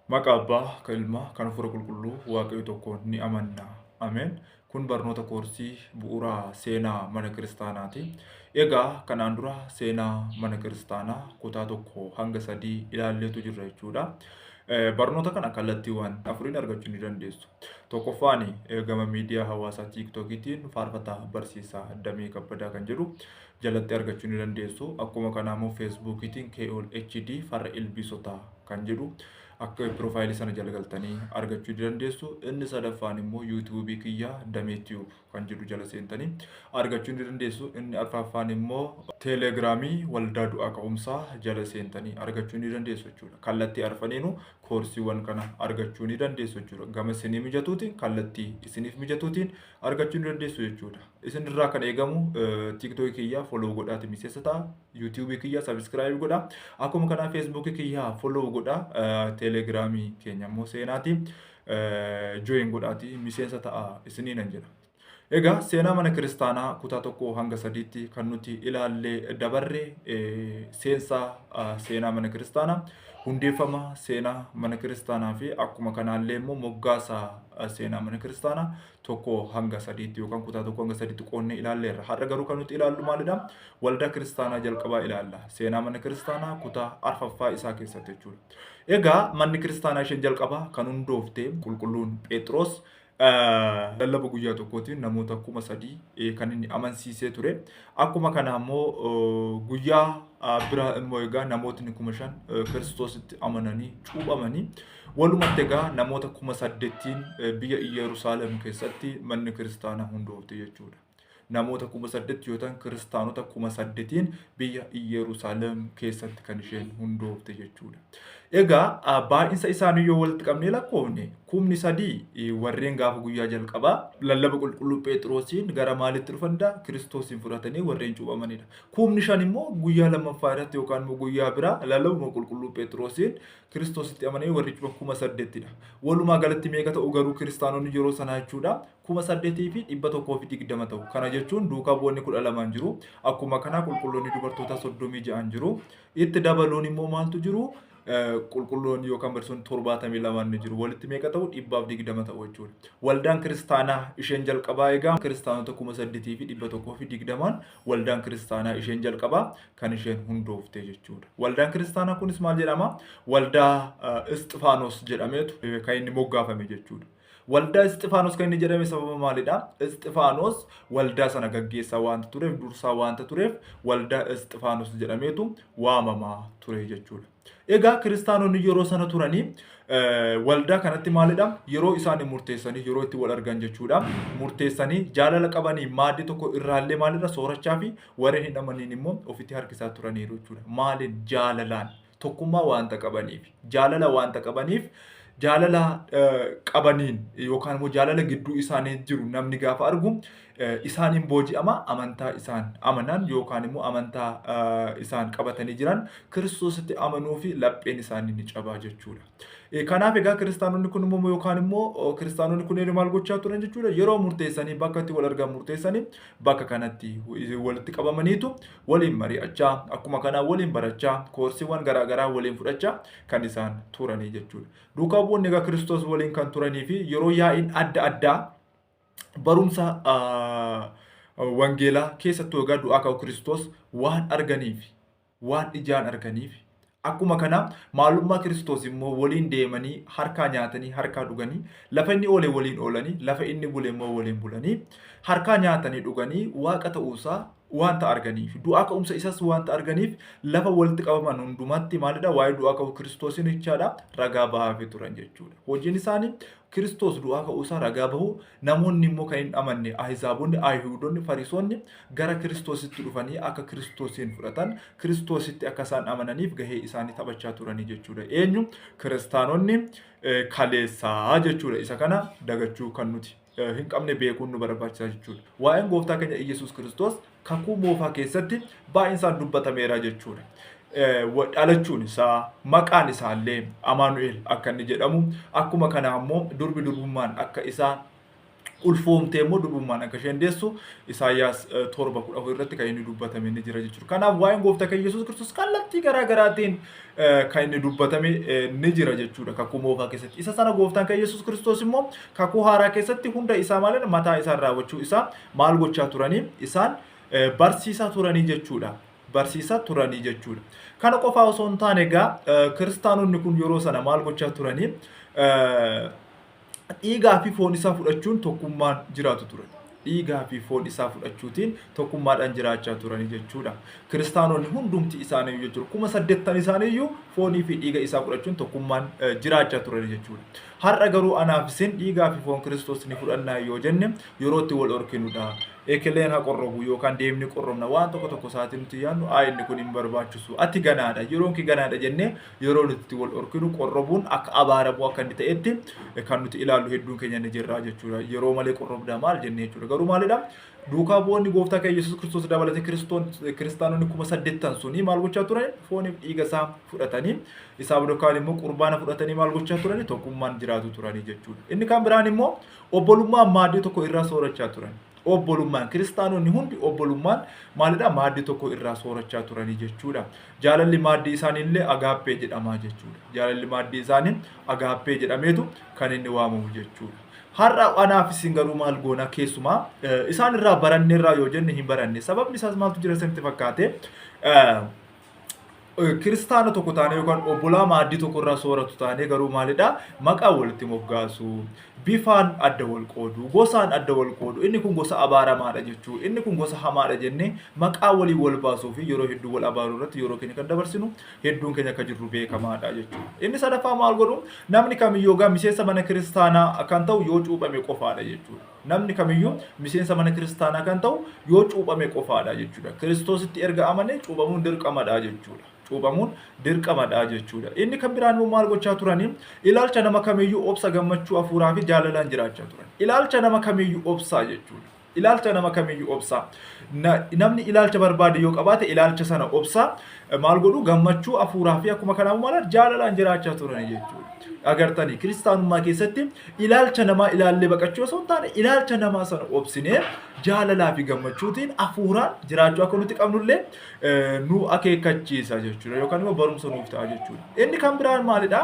Maqa Abbaa, ka Ilmaa, kan Hafuura Qulqulluu, Waaqayyo tokkoon ni amanna. Ameen. Kun barnoota koorsii bu'uura seenaa mana kiristaanaati. Egaa kanaan dura seenaa mana kiristaanaa kutaa tokko hanga sadii ilaalleetu jirra jechuudha. Barnoota kana kallattiiwwan afuriin argachuu ni dandeessu. Tokkoffaan gama miidiyaa hawaasaa tiiktookiitiin faarfataa barsiisaa Damee Kabbadaa kan jedhu jalatti argachuu ni dandeessu. Akkuma kanaa immoo feesbuukiitiin KOL HD farra ilbiisotaa kan jedhu akka piroofaayilii sana jala galtanii argachuu ni dandeessu. Inni sadaffaan immoo yuutuubii kiyya damee tiyuub kan jedhu jala seentanii argachuu ni dandeessu. Inni arfaffaan immoo teeleegiraamii waldaa du'aa ka'umsaa jala seentanii argachuu ni dandeessu jechuudha. Kallattii arfaniinuu koorsiiwwan kana argachuu ni dandeessu jechuudha. Gama isinii mijatuutiin kallattii isiniif mijatuutiin argachuu ni dandeessu jechuudha. Isinirraa kan eegamu tiiktookii kiyya foloo godhaati miseensa ta'a. YouTube kiyya subscribe godha. Akkuma kana Facebook kiyya follow godha. Telegram keenya immoo seenaati join godhaati miseensa ta'a isiniinan jedha. Egaa seenaa mana kiristaanaa kutaa tokko hanga sadiitti kan nuti ilaallee dabarre seensaa seenaa mana kiristaanaa hundeeffama seenaa mana kiristaanaa fi akkuma kanaallee immoo moggaasa seenaa mana kiristaanaa tokko hanga sadiitti yookaan kutaa tokko hanga sadiitti qoonnee ilaalleerra. Har'a garuu kan nuti ilaallu maalidha? Waldaa kiristaanaa jalqabaa ilaalla. Seenaa mana kiristaanaa kutaa arfaffaa isaa keessatti jechuudha. Egaa manni kiristaanaa isheen jalqabaa kan hundoofte qulqulluun Phexros lallaba guyyaa tokkootiin namoota kuma sadii kan inni amansiisee ture. Akkuma kana immoo guyyaa biraa immoo egaa namootni kuma shan kiristoositti amananii cuuphamanii Walumatti egaa namoota kuma saddettiin biyya Iyyeruusaalem keessatti manni kiristaanaa hundoofte jechuudha. Namoota kuma saddetti yoo ta'an kiristaanota kuma saddetiin biyya Iyyeruusaalem keessatti kan isheen hundoofte jechuudha. Egaa baay'insa isaanii yoo walitti qabnee lakkoofne kumni sadii warreen gaafa guyyaa jalqabaa lallaba qulqulluu Pheexiroosiin gara maalitti dhufan dha? Kiristoosiin fudhatanii warreen cuuphamanidha. Kumni shan immoo guyyaa lammaffaa irratti yookaan immoo guyyaa biraa lallabuma qulqulluu Pheexiroosiin Kiristoositti amanee warri cufa kuma saddeettidha. Walumaa galatti meeqa ta'u garuu kiristaanonni yeroo sanaa jechuudha kuma saddeetii fi dhibba tokkoo fi digdama ta'u. Kana jechuun duukaa bu'oonni kudha lamaan jiru. Akkuma kanaa qulqulloonni dubartootaa soddomii ja'an jiru. Itti dabaluun immoo maaltu jiru? Qulqulloonni yookaan barsiisonni torbaatamii lamaan ni jiru. Walitti meeqa ta'u? Dhibbaaf digdama ta'u jechuudha. Waldaan kiristaanaa isheen jalqabaa egaa kiristaanota kuma saddeetii fi dhibba tokkoo fi digdamaan waldaan kiristaanaa isheen jalqabaa kan isheen hundooftee jechuudha. Waldaan kiristaanaa kunis maal jedhama? Waldaa Isxifaanos jedhameetu kan inni moggaafame jechuudha. Waldaa Isxifaanos kan inni jedhame sababa maalidha? Isxifaanos waldaa sana gaggeessaa waanta tureef, dursaa waanta tureef waldaa Isxifaanos jedhameetu waamama ture jechuudha. Egaa kiristaanonni yeroo sana turanii waldaa kanatti maalidha? Yeroo isaan murteessanii yeroo itti wal argan jechuudha. Murteessanii jaalala qabanii maaddii tokko irraallee maalirra soorachaa fi warreen hin amaniin immoo ofitti harkisaa turaniiru jechuudha. Maaliin? Jaalalaan. Tokkummaa waanta qabaniif. Jaalala waanta qabaniif jaalala qabaniin yookaan immoo jaalala gidduu isaanii jiru namni gaafa argu isaan in booji'ama, amantaa isaan amanan yookaan immoo amantaa isaan qabatanii jiran kiristoositti amanuu fi lapheen isaanii ni cabaa jechuudha. Kanaaf egaa kiristaanonni kun immoo yookaan immoo kiristaanonni kunneen maal gochaa turan jechuudha yeroo murteessanii bakka itti wal argan murteessanii bakka kanatti walitti qabamaniitu waliin mari'achaa akkuma kanaa waliin barachaa koorsiiwwan garaagaraa waliin fudhachaa kan isaan turanii jechuudha. Duukaa bu'oonni egaa kiristoos waliin kan turanii fi yeroo yaa'iin adda addaa barumsa wangeelaa keessattuu egaa du'aa ka'uu Kiristoos waan arganiif waan ijaan arganiif akkuma kana maalummaa Kiristoos immoo waliin deemanii harkaa nyaatanii harkaa dhuganii lafa inni oole waliin oolanii lafa inni bule immoo waliin bulanii harkaa nyaatanii dhuganii waaqa ta'uusaa wanta arganiif du'aa ka'umsa isas wanta arganiif lafa walitti qabaman hundumatti maalidha waa'ee du'aa ka'uu Kiristoosiin jechaadha ragaa ba'aafii turan jechuudha hojiin isaanii Kiristoos du'aa ka'uu isaa ragaa bahu, namoonni immoo kan hin amanne, Ahizaabonni, Ayihuudonni, Fariisonni gara Kiristoositti dhufanii akka Kiristoosiin fudhatan, Kiristoositti akka isaan amananiif gahee isaanii taphachaa turanii jechuudha. Eenyu? Kiristaanonni eh, kaleessaa jechuudha. Isa kana dagachuu kan nuti eh, hin qabne beekuun nu barbaachisa jechuudha. Waa'een gooftaa keenya Iyyasuus Kiristoos kakuu moofaa keessatti baay'insaan dubbatameera jechuudha. Dhalachuun isaa maqaan isaallee Amaanu'eel akka inni jedhamu akkuma kana ammoo durbi durbummaan akka isaa ulfoomtee immoo durbummaan akka isheen deessu Isaayyaas torba kudha afur irratti kan inni dubbatame ni jira jechuudha. Kanaaf waa'een gooftaa keenya Yesuus Kiristoos kallattii garaa garaatiin kan inni dubbatame ni jira jechuudha kakuu moofaa keessatti. Isa sana gooftaan keenya Yesuus Kiristoos immoo kakuu haaraa keessatti hunda isaa malee mataa isaa raawwachuu isaa maal gochaa turanii isaan barsiisaa turanii jechuudha. barsiisaa turanii jechuudha. Kana qofaa osoo hin taane egaa kiristaanonni kun yeroo sana maal gochaa turanii dhiigaa fi foon isaa fudhachuun tokkummaan jiraatu ture. Dhiigaa fi foon isaa fudhachuutiin tokkummaadhaan jiraachaa turanii jechuudha. Kiristaanonni hundumti isaanii jechuudha. Kuma saddeettan isaaniiyyuu foonii fi dhiiga isaa fudhachuun tokkummaan jiraachaa turanii jechuudha. Har'a garuu anaaf isin dhiigaa fi foon Kiristoos ni fudhannaa yoo jenne yeroo itti wal dhorkinu dha. Ekeleen ha qorrobu yookaan deemnee qorrobna waan tokko tokko isaatii nuti yaadnu ayi inni kun hin barbaachisu ati ganaa dha yeroon kee ganaa dha jennee yeroo nuti itti wal dhorkinu qorrobuun akka abaaramuu akka inni ta'etti kan nuti ilaallu hedduun keenya ni jirraa jechuudha. Yeroo malee qorrobdaa maal jennee jechuudha. Garuu maalidha? Duukaa bu'oonni gooftaa keenya Yesuus Kiristoos dabalatee Kiristoon- kiristaanonni kuma saddeet ta'an suni maal gochaa turan? Fooniif dhiiga isaa fudhatanii isaa booda kaan immoo qurbaana fudhatanii maal gochaa turani? Tokkummaan jiraatu turanii jechuudha. Inni kan biraan immoo obbolummaan maaddii tokko irraa soorachaa turan. Obbolummaan kiristaanonni hundi obbolummaan maalidha? Maaddii tokko irraa soorachaa turanii jechuudha. Jaalalli maaddii isaanii illee agaappee jedhamaa jechuudha. Jaalalli maaddii isaanii agaappee jedhameetu kan inni waamamu jechuudha. Har'a anaaf isin garuu maal goona keessumaa isaan irraa baranneerraa yoo jenne hin baranne sababni isaas maaltu jira isinitti fakkaate kiristaana tokko taanee yookaan obbolaa maaddii tokko irraa sooratu taanee garuu maalidha maqaa walitti moggaasu bifaan adda wal qoodu gosaan adda wal qoodu inni kun gosa abaaramaadha jechuu inni kun gosa hamaadha jennee maqaa waliin wal baasuu fi yeroo hedduu wal abaaruu irratti yeroo keenya kan dabarsinu hedduun keenya akka jirru beekamaadha jechuudha. Inni sadaffaa maal godhu namni kamiyyuu yookaan miseensa mana kiristaanaa kan ta'u yoo cuuphame qofaadha jechuudha. Namni kamiyyuu miseensa mana kiristaanaa kan ta'u yoo cuuphame qofaadha jechuudha. Kiristoositti erga amane cuuphamuun dirqamadha jechuudha. Cuuphamuun dirqamadha jechuudha. Inni kan biraan immoo maal gochaa turanii ilaalcha nama kamiyyuu obsa gammachuu hafuuraa fi jaalalaan jiraachaa turan. Ilaalcha nama kamiyyuu obsaa jechuudha. Ilaalcha nama kamiyyuu obsa. Na, namni ilaalcha barbaade yoo qabaate ilaalcha sana obsa. Maal godhu? Gammachuu hafuuraa fi akkuma kanaa maal jaalalaan jiraachaa turani jechuudha. Agartanii kiristaanummaa keessatti ilaalcha namaa ilaallee baqachuu osoo hin taane ilaalcha namaa sana obsinee jaalalaa fi gammachuutiin hafuuraan jiraachuu akka nuti qabnullee eh, nu akeekkachiisa jechuudha yookaan immoo barumsa nuuf ta'a jechuudha. Inni kan biraan maalidha?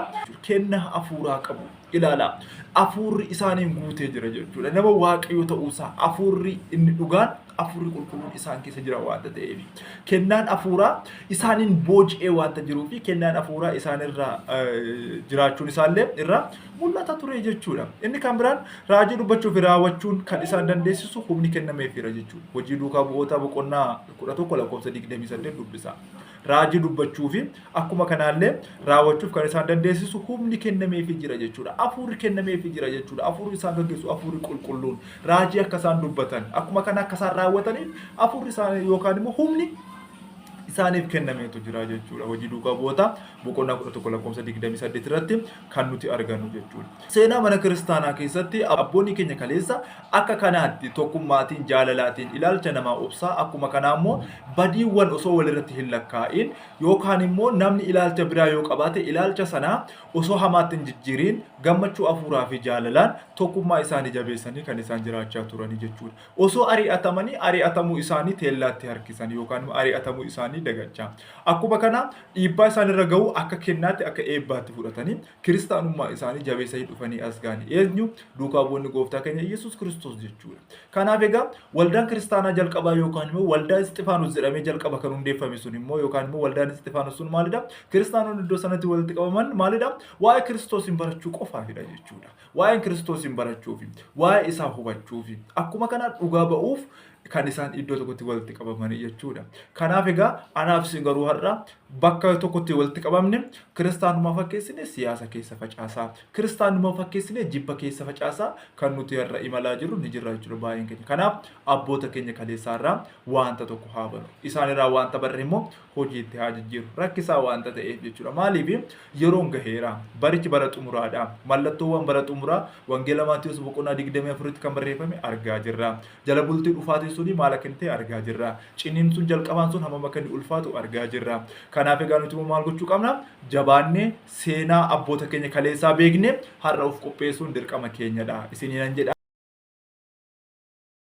Kenna hafuuraa qabu. Ilaalaa, Hafuurri isaaniin guutee jira jechuudha. Nama Waaqayyo ta'uusaa hafuurri inni dhugaan hafuurri qulqulluun isaan keessa jira waanta ta'eef. Kennaan hafuuraa isaaniin booji'ee waanta jiruu fi kennaan hafuuraa isaanirraa eh, jiraachuun isaallee irraa mul'ata ture jechuudha. Inni kan biraan raajii dubbachuu fi raawwachuun kan isaan dandeessisu humni kennameefiira jechuudha. Hojii duukaa bu'ootaa boqonnaa 11 lakkoofsa 28 dubbisa. Raajii dubbachuu fi Akkuma kanaallee raawwachuuf kan isaan dandeessisu humni kennameefii jira jechuudha. Afuurri kennameefii jira jechuudha. Afuurri isaan gaggeessu afuurri qulqulluun raajii akka isaan dubbatan akkuma kana akka isaan raawwataniif afuurri isaan yookaan immoo humni isaaniif kennameetu jira jechuudha. Hojii duukaa bu'oota boqonnaa 11 lakkoofsa 28 irratti kan nuti argannu jechuudha. Seenaa mana kiristaanaa keessatti abboonni keenya kaleessa akka kanaatti tokkummaatiin jaalalaatiin ilaalcha namaa obsaa akkuma kanaa immoo badiiwwan osoo walirratti hin lakkaa'in Yookaan immoo namni ilaalcha biraa yoo qabaate ilaalcha sana osoo hamaatti hin jijjiiriin gammachuu hafuuraa fi jaalalaan tokkummaa isaanii jabeessanii kan isaan jiraachaa turanii jechuudha. Osoo ari'atamanii ari'atamuu isaanii teellaatti harkisan yookaan immoo ari'atamuu isaanii dagachaa. Akkuma kana dhiibbaa isaan irra ga'u akka kennaatti akka eebbaatti fudhatanii kiristaanummaa isaanii jabeessanii dhufanii as ga'an eenyu duukaa bu'oonni gooftaa keenya Yesuus Kiristoos jechuudha. Kanaaf egaa waldaan kiristaanaa jalqabaa yookaan immoo waldaa Isxifaanos jedhamee jalqaba kan hundeeffame sun immoo yookaan immoo waldaan Isxifaanos sun maalidha? Kiristaanonni iddoo sanatti walitti qabaman maalidha? Waa'ee Kiristoosiin barachuu qofaafidha jechuudha. Waa'een Kiristoosiin barachuufi, waa'ee isaa hubachuufi, akkuma kana dhugaa ba'uuf kan isaan iddoo tokkotti walitti qabamanii jechuudha. Kanaaf egaa anaaf isin garuu har'a bakka tokkotti walitti qabamne kiristaanummaa fakkeessine siyaasa keessa facaasaa kiristaanummaa fakkeessine jibba keessa facaasaa kan nuti har'a imalaa jirru ni jirra jechuudha baay'een keenya. Kanaaf abboota keenya kaleessaarraa wanta tokko haa barru. Isaanirraa wanta barre immoo hojiitti haa jijjiiru. Rakkisaa waanta ta'eef jechuudha. Maaliif yeroon gaheera. Barichi bara xumuraadha. Mallattoowwan bara xumuraa Wangeela Maatiyoos boqonnaa 24tti kan barreeffame argaa jirra. Jala bultii dhufaatiin suni maal akka inni ta'e argaa jirra. Ciniinsuun jalqabaan sun hammam akka inni ulfaatu argaa jirra. Kanaaf egaa nuti immoo maal gochuu qabna? Jabaannee seenaa abboota keenya kaleessaa beeknee har'a of qopheessuun dirqama keenyadha. Isiniinan jedha.